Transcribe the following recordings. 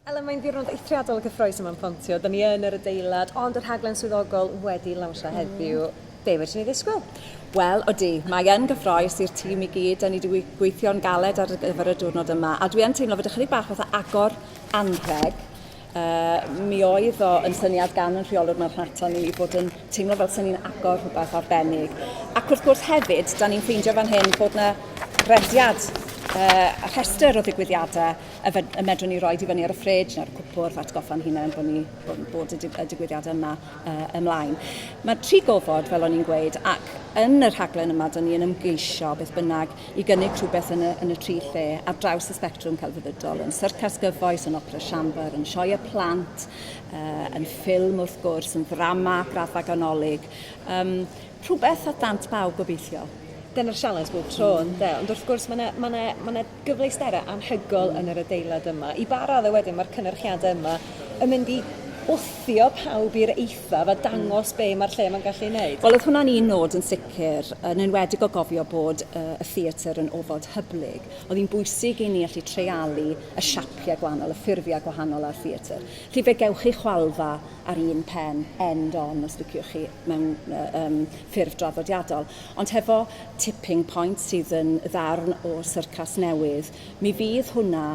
Elen, mae'n ddiwrnod eithriadol o gyffroes yma'n Pontio. Da ni yn yr adeilad, ond y rhaglen swyddogol wedi lawnsio mm. heddiw. Be wedi ni ddisgwyl? Wel, odi, mae yn gyffroes i'r tîm i gyd. Da ni wedi gweithio'n galed ar gyfer y diwrnod yma. A dwi yn teimlo fod ychydig bach fatha agor anrheg. Uh, mi oedd o yn syniad gan yn rheolwr mewn rhato ni i fod yn teimlo fel sy'n ni'n agor rhywbeth arbennig. Ac wrth gwrs hefyd, da ni'n ffeindio fan hyn bod yna rediad uh, rhestr o ddigwyddiadau y, fed, y medrwn ni roi i fyny ar y ffridge neu'r cwpwrdd atgoffa'n hunain bod ni bod, bod y, y digwyddiadau yma uh, ymlaen. Mae tri gofod, fel o'n i'n gweud, ac yn y rhaglen yma, da ni yn ymgeisio beth bynnag i gynnig rhywbeth yn y, yn y tri lle ar draws y sbectrwm celfyddydol, yn syrcas gyfoes, yn opera siambr, yn sioe y plant, uh, yn ffilm wrth gwrs, yn ddrama, graddfa ganolig, um, rhywbeth at dant bawb gobeithio dyna'r sialens bob tro yn de. Ond wrth gwrs mae yna ma ma ma ma gyfleusterau anhygol yn yr adeilad yma. I ba raddau wedyn mae'r cynnyrchiadau yma yn mynd i wthio pawb i'r eithaf gweithredaf a dangos be mae'r lle yma'n gallu ei wneud. Wel, oedd hwnna'n un nod yn sicr, yn enwedig o gofio bod y y theatr yn ofod hyblyg. Oedd hi'n bwysig i ni allu treialu y siapiau gwahanol, y ffurfiau gwahanol a'r theatr. Felly fe gewch chi chwalfa ar un pen, end on os liciwch chi, mewn yy yym ffurf draddodiadol, ond hefo tipping point sydd yn ddarn o syrcas newydd, Mi fydd hwnna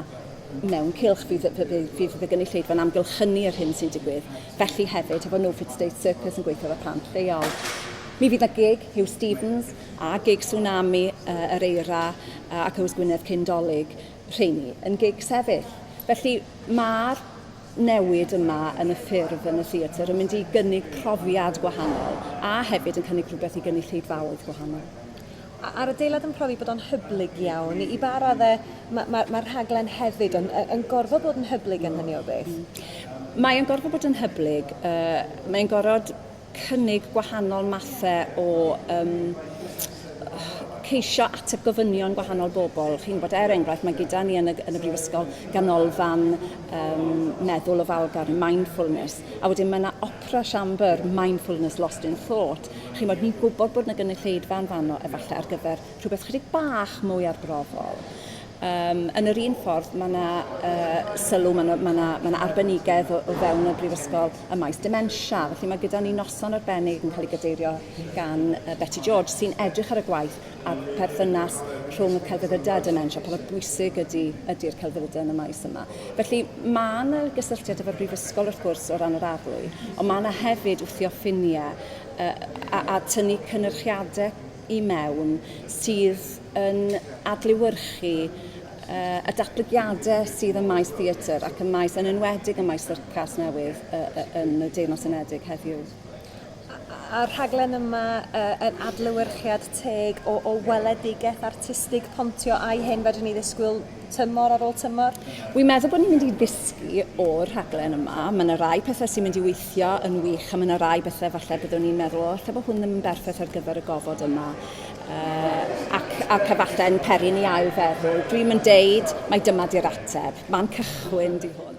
mewn cylch, fydd, fydd, fydd y gynulleidfa'n amgylchynu yr hyn sy'n digwydd. Felly hefyd, hefo No Fit State Circus yn gweithio efo plant lleol. Mi fydd na gig Hugh Stevens a gig Tsunami uh, yr Eira uh, ac Ywys Gwynedd cyn dolyg, rheini yn gig sefyll. Felly mae'r newid yma yn y ffurf yn y theatr yn mynd i gynnig profiad gwahanol a hefyd yn cynnig rhywbeth i gynulleidfaoedd gwahanol. A- a'r adeilad yn profi bod o'n hyblyg iawn i ba radde ma' ma' ma'r rhaglen hefyd yn yy yn gorfod bod yn hyblyg am hynny o beth? Mae o'n gorfod bod yn hyblyg yy mae'n gorod cynnig gwahanol mathe o yym ceisio ateb gofynion gwahanol bobl. Chi'n gwybod, er enghraifft, mae gyda ni yn y, yn y Brifysgol ganolfan um, meddwl ofalgar, mindfulness, a wedyn mae yna opera siambr, mindfulness lost in thought, Chimod, ni'n gwybod bod yna gynulleidfa yn fanno efallai ar gyfer rhywbeth chydig bach mwy arbrofol. Um, yn yr un ffordd, mae yna uh, sylw, mae yna ma na, ma na arbenigedd o, o fewn y brifysgol y maes dementia. Felly mae gyda ni noson arbennig yn cael ei gadeirio gan uh, Betty George sy'n edrych ar y gwaith a pherthynas rhwng y celfyddydau a dementia, pa mor bwysig ydy, ydy'r celfyddydau yn y maes yma. Felly mae yna gysylltiad efo'r brifysgol wrth gwrs o ran yr arlwy, ond mae yna hefyd wthio ffiniau uh, a, a tynnu cynyrchiadau i mewn sydd yn adlewyrchu uh, y datblygiadau sydd ym maes theatr ac ym maes yn enwedig ym maes syrcas newydd uh, uh, yn y Deyrnas Unedig heddiw. A'r rhaglen yma yy yn adlewyrchiad teg o o weledigaeth artistig Pontio a'i hyn fedrwn ni ddisgwyl tymor ar ôl tymor? Wi'n meddwl bod ni'n mynd i ddysgu o'r rhaglen yma. Mae yna rai pethau sy'n mynd i weithio yn wych a mae yna rai bethau falle byddwn ni'n meddwl o lle bod hwn ddim yn berffaith ar gyfer y gofod yma uh, ac, ac efallai yn peri ni ail feddwl. Dwi'n mynd deud mae dyma di'r ateb. Mae'n cychwyn di hwn.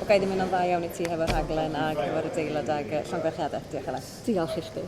Ga'i ddim yna'n dda iawn i ti hefo rhaglen ar gyfer y deilad ag y llongyfarchiadau. Diolch Elen. Diolch i chdi.